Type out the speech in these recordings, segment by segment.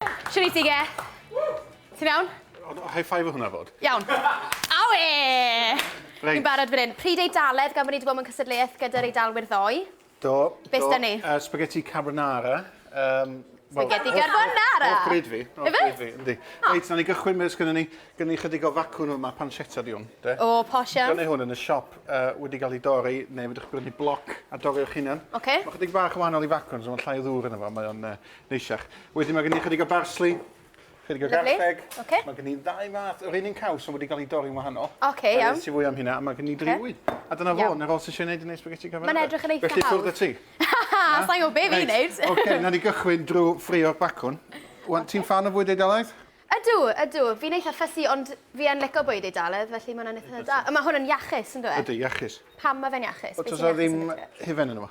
Shwt wyt ti, Ge? Ti'n iawn? High five o hwnna fod. Iawn. Awe! Reit. Fi'n barod fan hyn. Pryd Eidaledd, gan bod ni wedi bod mewn cystadleuaeth gyda'r Eidalwyr ddoe. Do. Be syda ni? Uh, spaghetti carbonara. Um, Spaghetti well, carbonara! Hoff bryd fi. Hoff bryd fi, yndi. Ah. Reit, na ni gychwyn beth gyda ni. Gyda ni chydig o facwn yma, pancetta di hwn. De? O, posh iawn. Dyna hwn yn y siop uh, wedi cael ei dorri, neu fydwch chi'n brynu bloc a dorri o'ch hunan. Okay. Mae chydig bach o wahanol i facwn, so mae'n llai o ddŵr yna fo. Mae o'n uh, Neisiach. Wedyn mae gen i ychydig o barsli, ychydig o garlleg. Okay. Mae gen i ddau fath, yr un un caws ond wedi cael ei dorri'n wahanol. Oce, okay, iawn. Nes i fwy am hynna, a mae gen i driwy. Okay. A dyna fo, na fo sy'n siarad gwneud yn ei spaghetti carbonara. Mae'n edrych yn eitha hawdd. Felly cwrdd y ti. Ha, sa'n gwybod be fi'n neud. Oce, na ni gychwyn drwy ffrio'r bacwn. Wan, ti'n fan o fwyd Eidalaidd? Ydw, ydw. Fi'n eitha ffysi, ond fi yn lico bwyd Eidalaidd, felly mae'n hwnna'n eitha da. Mae hwn yn iachus, yn dweud? Ydy, iachus. Pam mae fe'n iachus? Oes yna ddim hufen yn yma?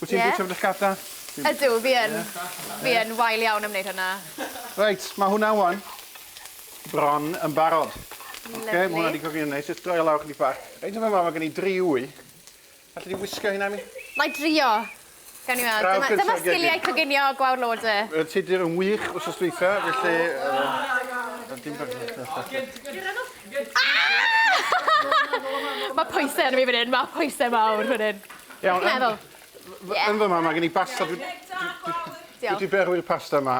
Wyt ti'n bwyta brechada? Ydw, fi yn. Fi yn wael iawn am wneud hwnna. Reit, mae hwnna wan bron yn barod. Lyfli. Oce, mae hwnna di coginio'n neis. Jyst droi o lawr chydig bach. Reit, yn fama, mae gen i dri wy. Alli di wisgo hynna i mi? Na i drio. Gawn ni weld. Dyma, dyma sgiliau coginio gwawr lode. Yy, ti dir yn wych wrth ysdweitha, felly... Yy, dim bach Mae pwysau ar mi fan hyn, mae pwysau mawr fan hyn. Iawn, yn, yeah. yn fyma mae gen i basta. Dwi, dwi, dwi, berwi'r pasta yma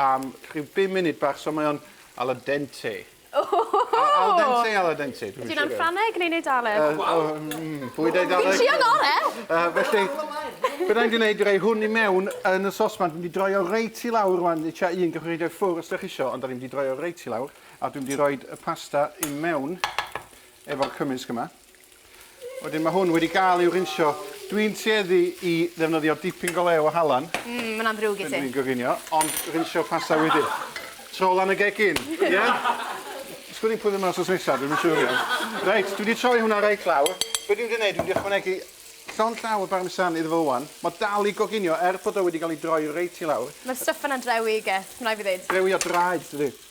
am rhyw 5 munud bach, so mae o'n al dente. Al dente, al dente. Dwi'n siŵr. Ffraneg neu'n Eidaleg? Uh, oh, mm, bwyd Eidaleg. Fi'n trio gore. Uh, felly, bydda i'n gwneud rei hwn i mewn yn y sosman. Dwi'n di droi o reit i lawr rwan, i tua un gyfrwyd o'r ffwr os ydych eisiau, ond da ni'n di droi o reit i lawr. A dwi'n di roi y pasta i mewn efo'r cymysg yma. Wedyn mae hwn wedi gael i'w rinsio. Dwi'n tueddu i ddefnyddio dipyn go lew o halan. Mm, mae'n amrwg i ti. Dwi'n goginio, ond rinsio pasta wedyn. Tro lan y gegin, ie? Yeah? Sgwn i'n pwyddo mas os nesaf, dwi'n siŵr iawn. Reit, dwi wedi troi hwnna reit lawr. Be dwi'n wedi gwneud, dwi'n wedi ychwanegu llond llaw o barmesan iddo fo wan. Mae dal i goginio, er bod o wedi cael ei droi reit i lawr. Mae'r stuff yna'n drewi, Geth, mae'n rhaid fi ddeud. Drewi o draed, dydy.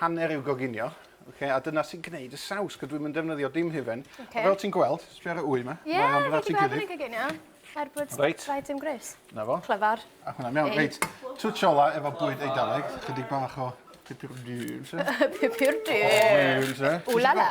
hanner i'w goginio, okay, a dyna sy'n gwneud y saws, cos dwi'm yn defnyddio dim hufen. Okay. Fel ti'n gweld, sbio ar y wy yma. Ie, yeah, fi wedi gweld yn ei goginio. Er bod right. rhaid dim gris. Na fo. Clyfar. Ac hwnna, mewn, reit. Twtio ola efo bwyd eidaleg, chydig bach o pipur dyn, se? pipur dyn. Ulala.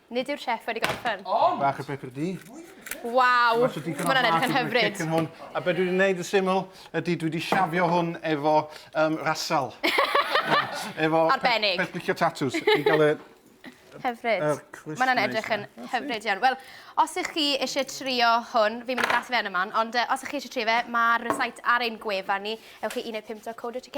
Nid yw'r chef wedi gorffen. Ond! Bach o pepper di. Waw! Mae hwnna'n edrych yn hyfryd. A be dwi wedi gwneud yn syml ydy dwi wedi siafio hwn efo um, rasal. efo Arbennig. Pe, pe, tatws. I gael y... Hyfryd. Er Mae hwnna'n edrych yn hyfryd iawn. Wel, os ych chi eisiau trio hwn, fi'n mynd i glas i fe yn y man, ond uh, os ych chi eisiau trio fe, mae'r rhysait ar ein gwefan ni. Ewch i 1.5.co.uk